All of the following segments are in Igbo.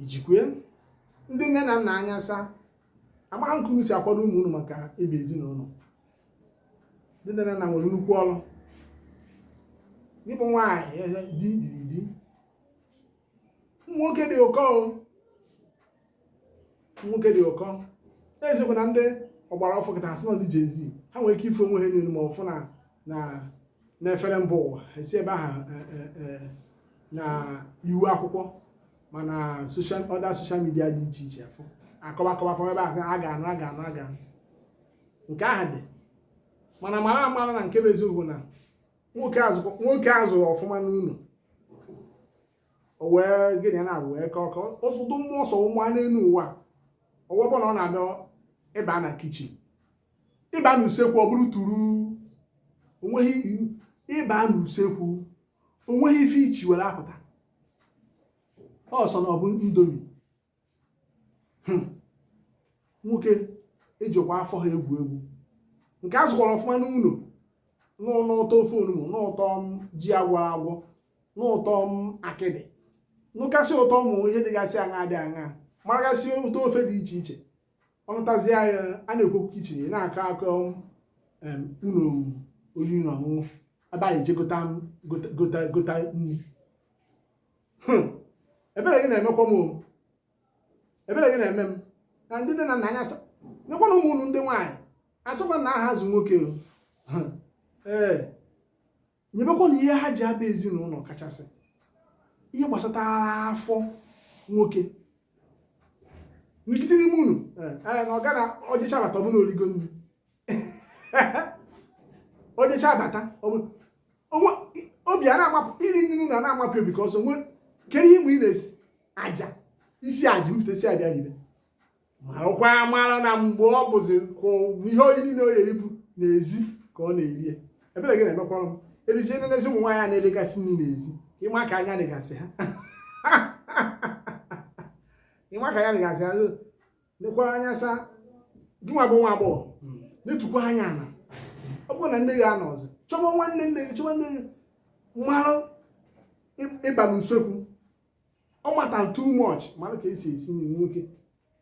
ijikwe ndị nne na nna anya saa amaghị nke unu si akwado ụmụ unu maka ịba ezinụlọ ndị nne na nna nwere nnukwu ọrụ gị bụ nwaanyị di diri di ụmụ nwoke dị ụkọ nwoke dị ụkọ eziokwu na ndị ọgbara ọfụụ kịta asị na ndị Gen Z ha nwere ike ịfụ onwe ha n'elu ma ọfụ na na n'efere mba ụwa esi ebe ahụ e, e, e, na ihu akwụkwọ ma na social other social media dị iche iche afọ akọwa akọwa fọm ebe ahụ a ga-anụ a ga-anụ a ga-anụ nke ahụ dị mana mara amara na nke bụ eziokwu na nwoke azụ nwoke azụrụ ọfụma n'ụlọ o wee gịnị ya na-abụ wee kọọ ka ụfọdụ mmụọ ọsọ ụmụ a n'elu ụwa o wee bụ na ọ na-abịa ịba na kitchen ịba na usekwu ọ bụrụ turu ịba na usekwu onweghị ife ichi were apụta ọsọ na ọ bụ ndomi hmm. nwoke ejikwa afọ ha egwu egwu nke a zụkwara ọfụma n'ụlọ nụ ụtọ ofe onugbu nụ ụtọ ji agwọrọ agwọ nụ ụtọ akịdị nụkasị ụtọ ụmụ ihe dịgasị aṅaa dị aṅaa maragasị ụtọ ofe dị iche iche ọ nụtazịa a na-ekwu okwu kitchen na-akọ akọ ụlọ oriri na ọṅụṅụ ebe anyị eje gota nri hmm. ebere gị na-emekwa m ebere gị na-eme m na ndị nne na nna anya saa nyekwanụ ụmụ unu ndị nwaanyị asọkwa na aha azụ nwoke hmm. ee eh. nyebekwanụ ihe ha ji aba ezinụlọ kachasị ihe gbasatara afọ nwoke nkịtị n'ime ụlọ eh, eh, na ọ gara ọ jechaa bata ọ bụ na o rigo nri o jechaa bata obi a na-amapụ iri nri na na-amapụ obi ka ọsọ nwee kedu ihe mgbe ị na-esi aja i sie aja bupụta i sie aja ribe marakwa amara na mgbe ọ bụzi kwụ ihe oyi niile o yeri bụ n'ezi ka ọ na-eri ya ebere gị na-emekwara m erije n'ezi ụmụ nwaanyị a na-elegasị nri n'ezi ka ịma ka anya dịgasị ha ịma ka anya dịgasị ha nekwara anya saa gịnwa bụ nwa agbọghọ netukwa anya ala ọ bụrụ na nne gị anọrọzị chọba nwanne nne gị chọba nne gị mara ịba n'usekwu ọ matter too much mara ka esi esi nri nwoke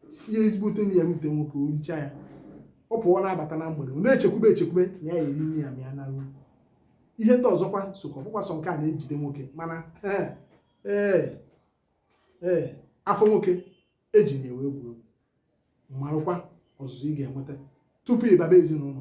sie ezigbote nri ya rute nwoke o richaa ya ọ pụọ na-abata na mgbede ọ na-echekwube echekwube na ya-eri nri ya ma ya naruo ihe ndị ọzọkwa sokwa ọ bụkwa sọ nke a na-ejide nwoke mana ee ee ee afọ nwoke eji na ewe egwu egwu marụkwa ọzụzụ ị ga-enweta tupu ịbaba ezinụlọ